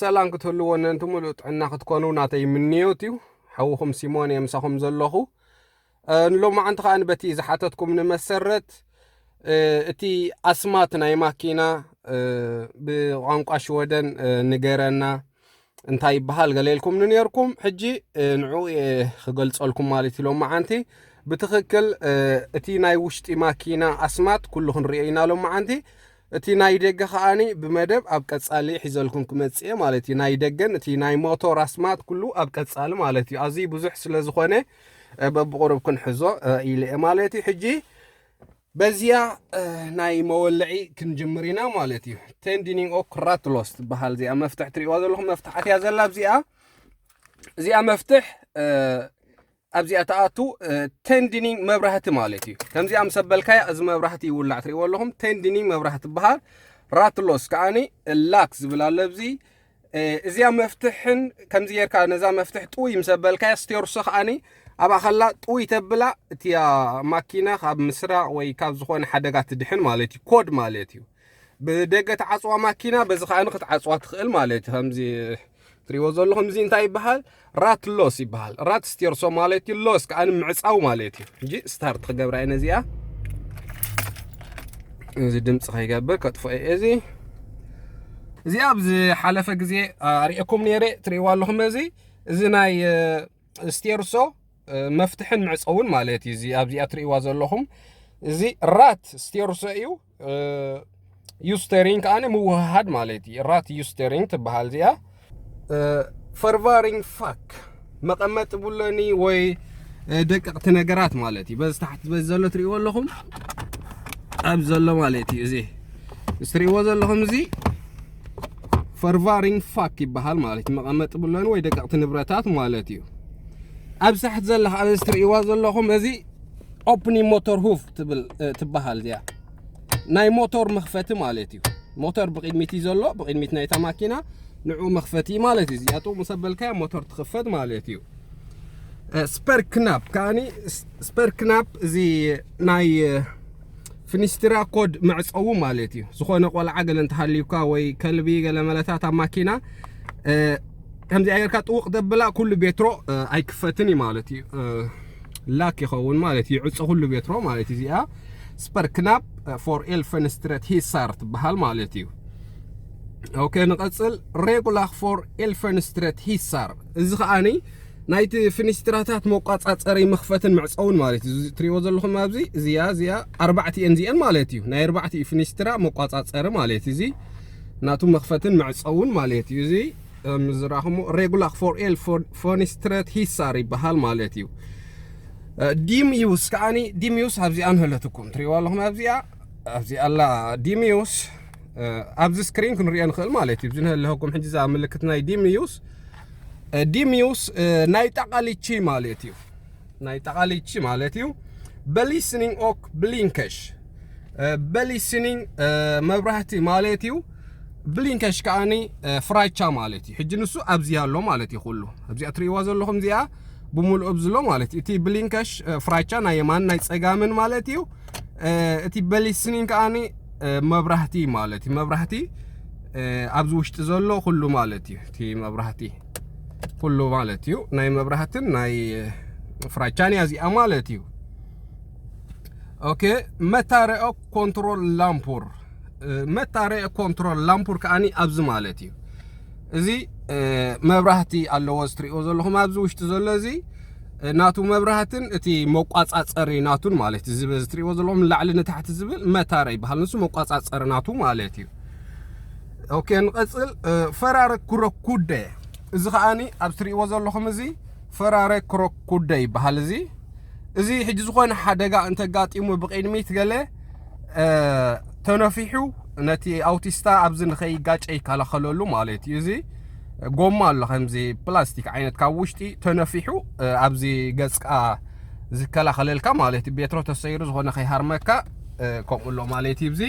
ሰላም ክትህልዎ ነንቲ ምሉእ ጥዕና ክትኮኑ ናተይ ምንዮት እዩ ሓውኹም ሲሞን እየ ምሳኹም ዘለኹ ንሎማዓንቲ ከዓ በቲ ዝሓተትኩም ንመሰረት እቲ ኣስማት ናይ ማኪና ብቋንቋ ሽወደን ንገረና እንታይ ይበሃል ገሌልኩም ንነርኩም ሕጂ ንዕኡ ክገልጸልኩም ማለት እዩ ሎማዓንቲ ብትኽክል እቲ ናይ ውሽጢ ማኪና ኣስማት ኩሉ ክንሪኦ ኢና ሎማዓንቲ እቲ ናይ ደገ ከኣ ብመደብ ኣብ ቀጻሊ ሒዘልኩም ክመጽእ እየ ማለት እዩ ናይ ደገን እቲ ናይ ሞቶ ራስማት ኩሉ ኣብ ቀጻሊ ማለት እዩ ኣዝዩ ብዙሕ ስለ ዝኾነ በብቑሩብ ክንሕዞ ኢለ እየ ማለት እዩ ሕጂ በዚያ ናይ መወልዒ ክንጅምር ኢና ማለት እዩ ቴንዲኒንግ ኦ ክራትሎስ ትበሃል እዚኣ መፍትሕ ትሪእዋ ዘለኹም መፍትሓት እያ ዘላ እዚኣ እዚኣ መፍትሕ ኣብዚኣ ትኣቱ ቴንዲኒንግ መብራህቲ ማለት እዩ ከምዚኣ ምስ ኣበልካያ እዚ መብራህቲ ይውላዕ ትርእይዎ ኣለኹም ቴንዲኒንግ መብራህቲ ትበሃል ራትሎስ ከዓኒ ላክ ዝብል ኣሎ ኣብዚ እዚኣ መፍትሕን ከምዚ ጌርካ ነዛ መፍትሕ ጥውይ ምስ ኣበልካያ ስቴርሶ ከዓኒ ኣብኣ ከላ ጥውይ ተብላ እቲያ ማኪና ካብ ምስራቕ ወይ ካብ ዝኾነ ሓደጋ ትድሕን ማለት እዩ ኮድ ማለት እዩ ብደገ ትዓጽዋ ማኪና በዚ ከኣ ክትዓጽዋ ትኽእል ማለት እዩ ከምዚ ትሪዎ ዘለኹም እዚ እንታይ ይበሃል ራት ሎስ ይበሃል ራት ስቴርሶ ማለት እዩ ሎስ ከዓ ንምዕፃው ማለት እዩ እንጂ ስታርት ክገብራ እየ ነዚኣ እዚ ድምፂ ከይገብር ከጥፎ እየ እዚ እዚኣ ኣብ ዝሓለፈ ግዜ ኣርእኩም ነይረ ትሪእዋ ኣለኹም እዚ እዚ ናይ ስቴርሶ መፍትሕን መዕፀውን ማለት እዩ እዚ ኣብዚኣ ትሪእዋ ዘለኹም እዚ ራት ስቴርሶ እዩ ዩስተሪንግ ከኣ ምውህሃድ ማለት እዩ ራት ዩስተሪንግ ትበሃል እዚኣ ፈርቫሪንግ ፋክ መቐመጢ ቡለኒ ወይ ደቀቕቲ ነገራት ማለት እዩ በዚ ታሕቲ በዚ ዘሎ ትሪእዎ ኣለኹም ኣብ ዘሎ ማለት እዩ እዚ እዚ ትሪእዎ ዘለኹም እዚ ፈርቫሪንግ ፋክ ይበሃል ማለት እዩ መቐመጢ ቡለኒ ወይ ደቀቕቲ ንብረታት ማለት እዩ ኣብ ሳሕት ዘለካ ኣብዚ ትሪእዋ ዘለኹም እዚ ኦፕኒ ሞተር ሁቭ ትብል ትበሃል እዚኣ ናይ ሞተር መኽፈቲ ማለት እዩ ሞተር ብቕድሚት እዩ ዘሎ ብቕድሚት ናይታ ማኪና ንዑ መኽፈቲ ማለት እዩ እዚኣ ጥቕሙ ሰበልካያ ሞተር ትኽፈት ማለት እዩ ስፐር ክናፕ ከዓኒ ስፐር ክናፕ እዚ ናይ ፍኒስትራ ኮድ መዕጸዊ ማለት እዩ ዝኾነ ቆልዓ ገለ እንተሃልዩካ ወይ ከልቢ ገለ መለታት ኣብ ማኪና ከምዚኣ ጌርካ ጥውቕ ተብላ ኩሉ ቤትሮ ኣይክፈትን እዩ ማለት እዩ ላክ ይኸውን ማለት እዩ ይዕጾ ኩሉ ቤትሮ ማለት እዩ እዚኣ ስፐር ክናፕ ፎር ኤል ፈንስትረት ሂሳር ትበሃል ማለት እዩ ኦኬ ንቐጽል ሬጉላክ ፎር ኤል ፈንስትረት ሂሳር እዚ ከዓኒ ናይቲ ፍኒስትራታት መቋጻጸሪ መኽፈትን መዕጸውን ማለት እዩ። እዚ ትሪእዎ ዘለኹም ኣብዚ እዚያ እዚያ ኣርባዕቲኤን እዚኤን ማለት እዩ። ናይ ኣርባዕቲኡ ፍኒስትራ መቋጻጸሪ ማለት እዩ። እዚ ናቱ መኽፈትን መዕጸውን ማለት እዩ። እዚ ከም ዝረኣኹሞ ሬጉላክ ፎር ኤል ፎኒስትረት ሂሳር ይበሃል ማለት እዩ። ዲምዩስ ከዓኒ ዲምዩስ ኣብዚኣ ንህለትኩም ትሪእዋ ኣለኹም ኣብዚኣ ኣብዚኣ ኣላ ዲምዩስ ኣብዚ ስክሪን ክንሪኦ ንኽእል ማለት እዩ። እዚ ንህለኩም ሕጂ እዛ ምልክት ናይ ዲምዩስ ዲሚዩስ ናይ ጣቓሊቺ ማለት እዩ ናይ ጣቓሊቺ ማለት እዩ በሊስኒንግ ኦክ ብሊንከሽ በሊስኒንግ መብራህቲ ማለት እዩ ብሊንከሽ ከዓኒ ፍራቻ ማለት እዩ ሕጂ ንሱ ኣብዚ ኣሎ ማለት እዩ ኩሉ ኣብዚኣ ትርእይዋ ዘለኹም እዚኣ ብምልኡ ብዝሎ ማለት እዩ እቲ ብሊንከሽ ፍራቻ ናይ የማን ናይ ፀጋምን ማለት እዩ እቲ በሊስ ስኒን ከዓኒ መብራህቲ ማለት እዩ መብራህቲ ኣብዚ ውሽጢ ዘሎ ኩሉ ማለት እዩ እቲ መብራህቲ ኩሉ ማለት እዩ ናይ መብራህትን ናይ ፍራቻን እያ እዚኣ ማለት እዩ ኦኬ መታረኦ ኮንትሮል ላምፑር መታረኦ ኮንትሮል ላምፑር ከዓኒ ኣብዚ ማለት እዩ እዚ መብራህቲ ኣለዎ እዚ ትሪእዎ ዘለኹም ኣብዚ ውሽጢ ዘሎ እዚ ናቱ መብራህትን እቲ መቋጻጸሪ ናቱን ማለት እዩ። እዚ በዚ ትሪእዎ ዘለኹም ንላዕሊ ንታሕቲ ዝብል መታረ ይበሃል። ንሱ መቋጻጸሪ ናቱ ማለት እዩ። ኦኬ ንቐጽል። ፈራረ ኩረኩደ እዚ ከዓኒ ኣብ ትሪእዎ ዘለኹም እዚ ፈራረ ኩረኩደ ይበሃል። እዚ እዚ ሕጂ ዝኾነ ሓደጋ እንተጋጢሙ ብቕድሚት ገለ ተነፊሑ ነቲ ኣውቲስታ ኣብዚ ንኸይጋጨ ይከላኸለሉ ማለት እዩ እዚ ጎማ ኣሎ ከምዚ ፕላስቲክ ዓይነት ካብ ውሽጢ ተነፊሑ ኣብዚ ገጽካ ዝከላኸለልካ ማለት እዩ ቤትሮ ተሰይሩ ዝኾነ ከይሃርመካ ከምኡ ኣሎ ማለት እዩ እዚ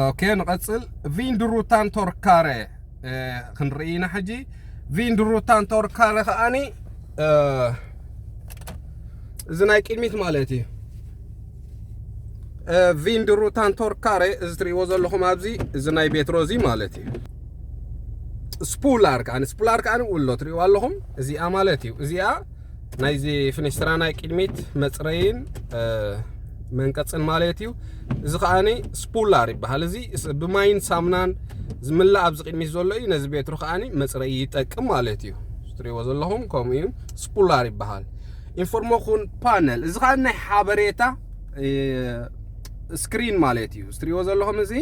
ኦኬ ንቐጽል ቪንድሩታን ቶርካረ ክንርኢ ኢና ሕጂ ቪንድሩታን ቶርካረ ከዓኒ እዚ ናይ ቅድሚት ማለት እዩ ቪንድሩ ታንቶርካሬ እዚ ትሪእዎ ዘለኹም ኣብዚ እዚ ናይ ቤት ሮዚ ማለት እዩ ስፑላር ከዓ ስፑላር ከዓ ውሎ ትሪእዎ ኣለኹም እዚኣ ማለት እዩ እዚኣ ናይዚ ፍኒስትራ ናይ ቅድሚት መፅረይን መንቀፅን ማለት እዩ እዚ ከዓኒ ስፑላር ይበሃል እዚ ብማይን ሳምናን ዝምላእ ኣብዚ ቅድሚት ዘሎ እዩ ነዚ ቤትሩ ከዓኒ መፅረይ ይጠቅም ማለት እዩ ትሪእዎ ዘለኹም ከምኡ እዩ ስፑላር ይበሃል ኢንፎርሞኹን ፓነል እዚ ኸዓ ናይ ሓበሬታ ስክሪን ማለት እዩ ዝትሪእዎ ዘለኹም እዚ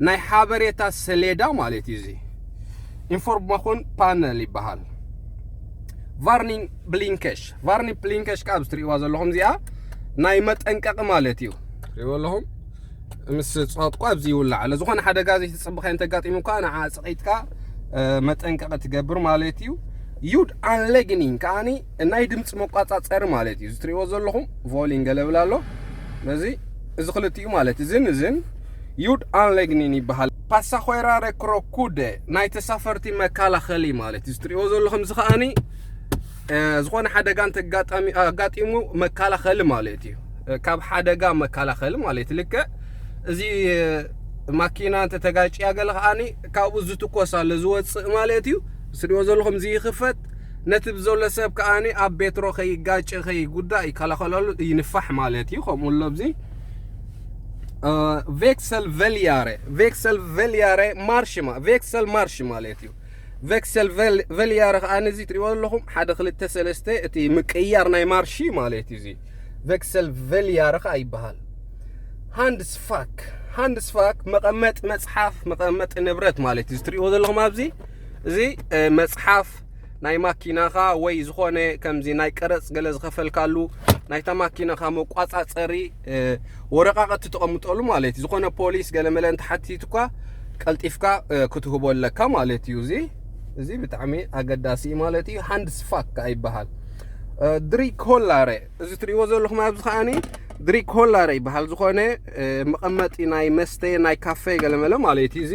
ናይ ሓበሬታ ሰሌዳ ማለት እዩ እዚ ኢንፎርሞኹን ፓነል ይበሃል ቫርኒንግ ብሊንከሽ ቫርኒንግ ብሊንከሽ ከዓ ዝትሪእዋ ዘለኹም እዚኣ ናይ መጠንቀቂ ማለት እዩ ትሪእዎ ኣለኹም ምስ ፀጥቋ ኣብዚ ይውላዕ ኣሎ ዝኾነ ሓደጋ ዘይተፀበኸ እንተጋጢሙ እኳ ንዓ ፅቂጥካ መጠንቀቂ ትገብር ማለት እዩ ዩድ ኣንሌግኒንግ ከዓኒ ናይ ድምፂ መቋፃፀሪ ማለት እዩ ዝትሪእዎ ዘለኹም ቮሊን ገለብል ኣሎ ነዚ እዚ ክልቲኡ ማለት እዝን እዝን ዩድ ኣንሌግኒን ይበሃል ፓሳኾራ ረክሮኩደ ናይ ተሳፈርቲ መከላኸሊ ማለት እዩ ዝትሪእዎ ዘለኹም እዚ ከዓኒ ዝኾነ ሓደጋ እንተጋጣሚ ኣጋጢሙ መከላኸሊ ማለት እዩ ካብ ሓደጋ መከላኸሊ ማለት ልክዕ እዚ ማኪና እንተተጋጭያ ገለ ከዓኒ ካብኡ ዝትኮስ ኣሎ ዝወፅእ ማለት እዩ ዝትሪእዎ ዘለኹም ዝይኽፈት ነቲ ብዘሎ ሰብ ከኣ ኣብ ቤትሮ ከይጋጨ ከይጉዳእ ይከላኸለሉ እዩ ንፋሕ ማለት እዩ ከምኡ ኣሎ ኣብዚ ቬክሰል ቨልያረ ቬክሰል ቨልያረ ማርሽ ቬክሰል ማርሽ ማለት እዩ ቬክሰል ቨልያረ ከኣ ነዚ ትሪእዎ ኣለኹም ሓደ ክልተ ሰለስተ እቲ ምቅያር ናይ ማርሺ ማለት እዩ እዚ ቬክሰል ቨልያረ ከኣ ይበሃል ሃንድስፋክ ሃንድስፋክ መቐመጢ መፅሓፍ መቐመጢ ንብረት ማለት እዩ ዝትሪእዎ ዘለኹም ኣብዚ እዚ መጽሓፍ ናይ ማኪናኻ ወይ ዝኾነ ከምዚ ናይ ቀረጽ ገለ ዝኸፈልካሉ ናይታ ማኪናኻ መቋጻጸሪ ወረቃቐቲ ተቐምጠሉ ማለት እዩ ዝኾነ ፖሊስ ገለ መለ እንተሓቲትኳ ቀልጢፍካ ክትህቦ ኣለካ ማለት እዩ እዚ እዚ ብጣዕሚ ኣገዳሲ እዩ ማለት እዩ ሃንድ ስፋክ ከዓ ይበሃል ድሪክ ሆላረ እዚ ትሪእዎ ዘለኹም ኣብዚ ከዓኒ ድሪክ ሆላረ ይበሃል ዝኾነ መቐመጢ ናይ መስተ ናይ ካፌ ገለመለ ማለት እዩ እዚ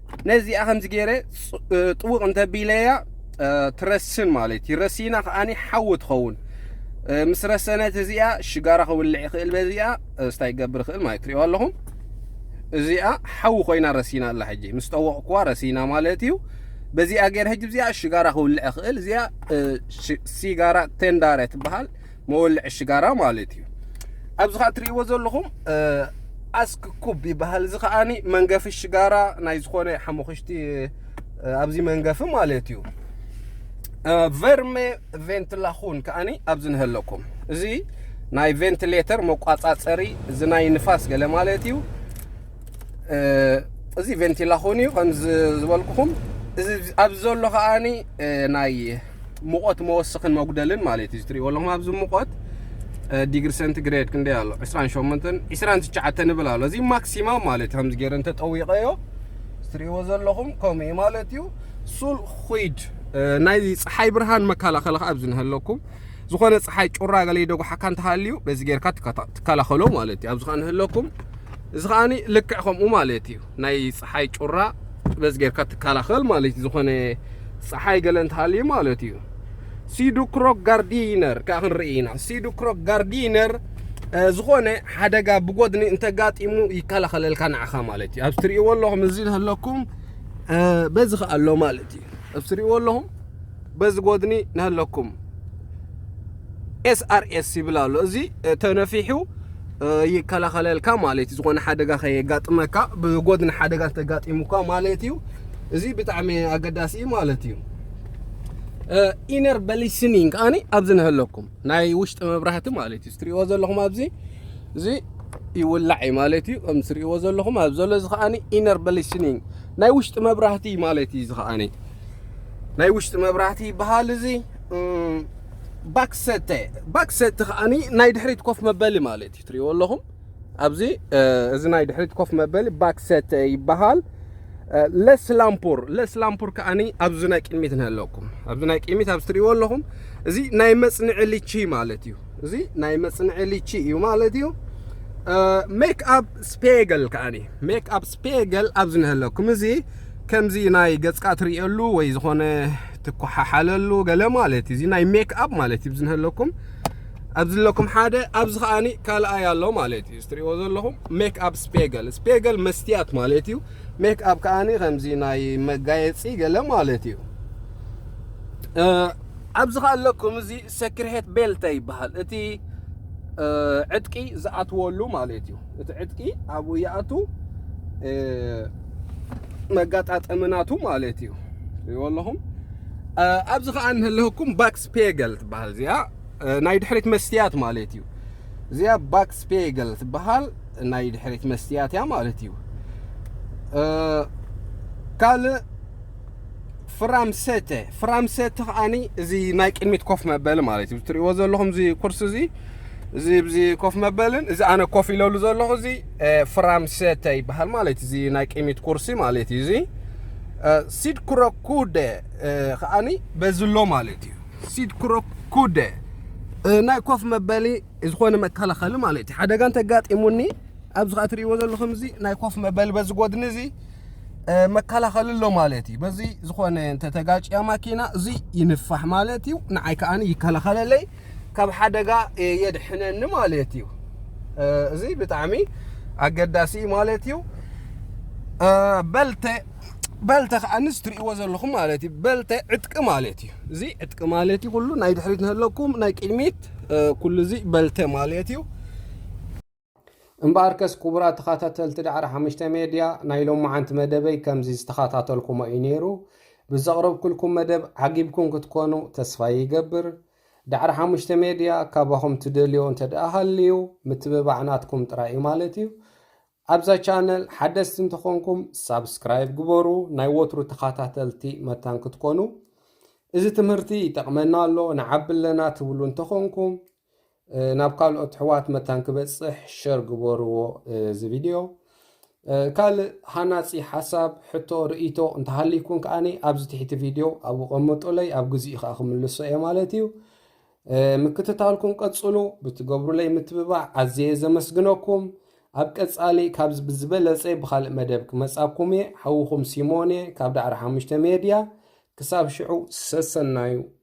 ነዚኣ ከምዚ ገይረ ጥውቕ እንተቢለያ ትረስን ማለት እዩ ረሲና ከዓኒ ሓዊ ትኸውን ምስ ረሰነት እዚኣ ሽጋራ ክውልዕ ይኽእል በዚኣ ስታ ይገብር ይኽእል ማለት ትሪእዋ ኣለኹም እዚኣ ሓዊ ኮይና ረሲና ኣላ ሕጂ ምስ ጠወቕኩዋ ረሲና ማለት እዩ በዚኣ ገይረ ሕጂ እዚኣ ሽጋራ ክውልዕ ይኽእል እዚኣ ሲጋራ ቴንዳረ ትበሃል መወልዒ ሽጋራ ማለት እዩ ኣብዚ ከዓ እትሪእዎ ዘለኹም ኣስክ ኩብ ይበሃል እዚ ከዓኒ መንገፊ ሽጋራ ናይ ዝኾነ ሓሙኽሽቲ ኣብዚ መንገፊ ማለት እዩ ቨርሜ ቬንትላኹን ከዓኒ ኣብዚ ንህለኩም እዚ ናይ ቬንትሌተር መቋፃፀሪ እዚ ናይ ንፋስ ገለ ማለት እዩ እዚ ቬንቲላኹን እዩ ከምዚ ዝበልኩኹም እዚ ኣብ ዘሎ ከዓኒ ናይ ሙቐት መወስኽን መጉደልን ማለት እዩ ዝትሪእዎ ኣለኹም ኣብዚ ሙቐት ዲግሪ ሰንቲግሬድ ክንደይ ኣሎ 28 29 ንብል ኣሎ እዚ ማክሲማም ማለት ከምዚ ገይረ እንተጠዊቐዮ ትሪእዎ ዘለኹም ከምኡ እዩ ማለት እዩ ሱል ኹይድ ናይ ፀሓይ ብርሃን መከላኸሊ ከዓ ኣብዚ ንሃለኩም ዝኾነ ፀሓይ ጩራ ገለ ይደጉሓካ እንተሃልዩ በዚ ጌርካ ትከላኸሎ ማለት እዩ ኣብዚ ከዓ ንሃለኩም እዚ ከዓኒ ልክዕ ከምኡ ማለት እዩ ናይ ጸሓይ ጩራ ጥበዝ ጌርካ ትከላኸል ማለት እዩ ዝኾነ ጸሓይ ገለ እንተሃልዩ ማለት እዩ ሲዱክሮክ ጋርዲነር ከዓ ክንርኢ ኢና ሲዱክሮክ ጋርዲነር ዝኾነ ሓደጋ ብጎድኒ እንተጋጢሙ ይከላኸለልካ ንዓኻ ማለት እዩ ኣብ ትርእይዎ ኣለኹም እዚ ኣለኩም በዚ ከዓ ኣሎ ማለት እዩ ኣብ ትርእይዎ ኣለኹም በዚ ጎድኒ ንሃለኩም SRS ይብል ኣሎ እዚ ተነፊሑ ይከላኸለልካ ማለት እዩ ዝኾነ ሓደጋ ከየጋጥመካ ብጎድኒ ሓደጋ ተጋጢሙካ ማለት እዩ እዚ ብጣዕሚ ኣገዳሲ እዩ ማለት እዩ ኢነር በሊስኒን ከዓኒ ኣብዚ ንህለኩም ናይ ውሽጢ መብራህቲ ማለት እዩ ትሪእዎ ዘለኹም ኣብዚ እዚ ይውላዕ እዩ ማለት እዩ ከም ትሪእዎ ዘለኹም ኣብ ዘሎ እዚ ከዓኒ ኢነር በሊስኒን ናይ ውሽጢ መብራህቲ ማለት እዩ እዚ ከዓኒ ናይ ውሽጢ መብራህቲ ይበሃል እዚ ባክሰተ ባክሰተ ከዓኒ ናይ ድሕሪት ኮፍ መበሊ ማለት እዩ ትሪእዎ ኣለኹም ኣብዚ እዚ ናይ ድሕሪት ኮፍ መበሊ ባክሰተ ይበሃል ለስ ላምፖር ለስ ላምፖር ከዓኒ ኣብዚ ናይ ቅድሚት ንህለኩም ኣብዚ ናይ ቅድሚት ኣብዚ ትሪእዎ ኣለኹም እዚ ናይ መፅንዒ ልቺ ማለት እዩ እዚ ናይ መፅንዒ ልቺ እዩ ማለት እዩ ሜክ ኣፕ ስፔገል ከዓኒ ሜክ ኣፕ ስፔገል ኣብዚ ንህለኩም እዚ ከምዚ ናይ ገፅካ ትርእየሉ ወይ ዝኾነ ትኳሓሓለሉ ገለ ማለት እዩ። እዚ ናይ ሜክ ኣፕ ማለት እዩ። ብዝንህለኩም ኣብዚ ኣለኩም ሓደ ኣብዚ ከዓኒ ካልኣይ ኣሎ ማለት እዩ። ዝትሪእዎ ዘለኹም ሜክ ኣፕ ስፔገል ስፔገል መስትያት ማለት እዩ። ሜክ ኣፕ ከዓኒ ከምዚ ናይ መጋየፂ ገለ ማለት እዩ። ኣብዚ ከ ኣለኩም እዚ ሰክርሄት ቤልተ ይበሃል እቲ ዕጥቂ ዝኣትወሉ ማለት እዩ። እቲ ዕጥቂ ኣብኡ ይኣቱ መጋጣጠሚ ናቱ ማለት እዩ። ይወለኹም ኣብዚ ከዓ እንህልህኩም ባክስ ፔገል ትበሃል እዚኣ ናይ ድሕሪት መስትያት ማለት እዩ። እዚኣ ባክስ ፔገል ትበሃል ናይ ድሕሪት መስትያት እያ ማለት እዩ ካልእ ፍራምሰተ ፍራምሰተ ከዓኒ እዚ ናይ ቅድሚት ኮፍ መበሊ ማለት እዩ ትሪእዎ ዘለኹም እዚ ኩርሲ እዚ እዚ እዚ ኮፍ መበልን እዚ ኣነ ኮፍ ኢለሉ ዘለኹ እዚ ፍራምሰተ ይበሃል ማለት እዚ ናይ ቅድሚት ኩርሲ ማለት እዩ እዚ ሲድ ኩረኩደ ከዓኒ በዚ ኣሎ ማለት እዩ ሲድ ኩረኩደ ናይ ኮፍ መበሊ ዝኾነ መከላኸሊ ማለት እዩ ሓደጋ እንተጋጢሙኒ ኣብዚ ከዓ ትሪእዎ ዘለኹም እዚ ናይ ኮፍ መበሊ በዚ ጎድኒ እዚ መከላኸሊ ኣሎ ማለት እዩ በዚ ዝኾነ እንተተጋጭያ ማኪና እዚ ይንፋሕ ማለት እዩ ንዓይ ከዓ ይከላኸለለይ ካብ ሓደጋ የድሕነኒ ማለት እዩ እዚ ብጣዕሚ ኣገዳሲ ማለት እዩ በልተ በልተ ከዓ ንስ ትርእይዎ ዘለኹም ማለት እዩ በልተ ዕጥቂ ማለት እዩ እዚ ዕጥቂ ማለት እዩ ኩሉ ናይ ድሕሪት ንህለኩም ናይ ቅድሚት ኩሉ እዚ በልተ ማለት እዩ እምበኣርከስ ክቡራት ተኸታተልቲ ዳዕሮ ሓሙሽተ ሜድያ ናይ ሎማዓንቲ መደበይ ከምዚ ዝተኸታተልኩሞ እዩ ነይሩ። ብዘቕረብኩልኩም መደብ ዓጊብኩም ክትኮኑ ተስፋ ይገብር። ዳዕሮ ሓሙሽተ ሜድያ ካባኹም ትደልዮ እንተደኣ ሃልዩ ምትብባዕ ናትኩም ጥራይ እዩ ማለት እዩ። ኣብዛ ቻነል ሓደስቲ እንተኾንኩም ሳብስክራይብ ግበሩ ናይ ወትሩ ተኸታተልቲ መታን ክትኮኑ እዚ ትምህርቲ ይጠቕመና ኣሎ ንዓቢ ኣለና ትብሉ እንተኾንኩም ናብ ካልኦት ኣሕዋት መታን ክበጽሕ ሸር ግበርዎ እዚ ቪድዮ። ካልእ ሃናጺ ሓሳብ፣ ሕቶ፣ ርእይቶ እንተሃልይኩም ከኣ ኣብዚ ትሕቲ ቪድዮ ኣብኡ ቀምጡለይ ኣብ ግዚኡ ከኣ ክምልሶ እየ ማለት እዩ። ምክትታልኩም ቀጽሉ፣ ብትገብሩለይ ምትብባዕ ኣዝየ ዘመስግነኩም። ኣብ ቀጻሊ ካብዚ ብዝበለጸ ብኻልእ መደብ ክመጻኩም እየ። ሓውኹም ሲሞን እየ ካብ ዳዕሮ ሓሙሽተ ሜድያ። ክሳብ ሽዑ ሰሰናዩ።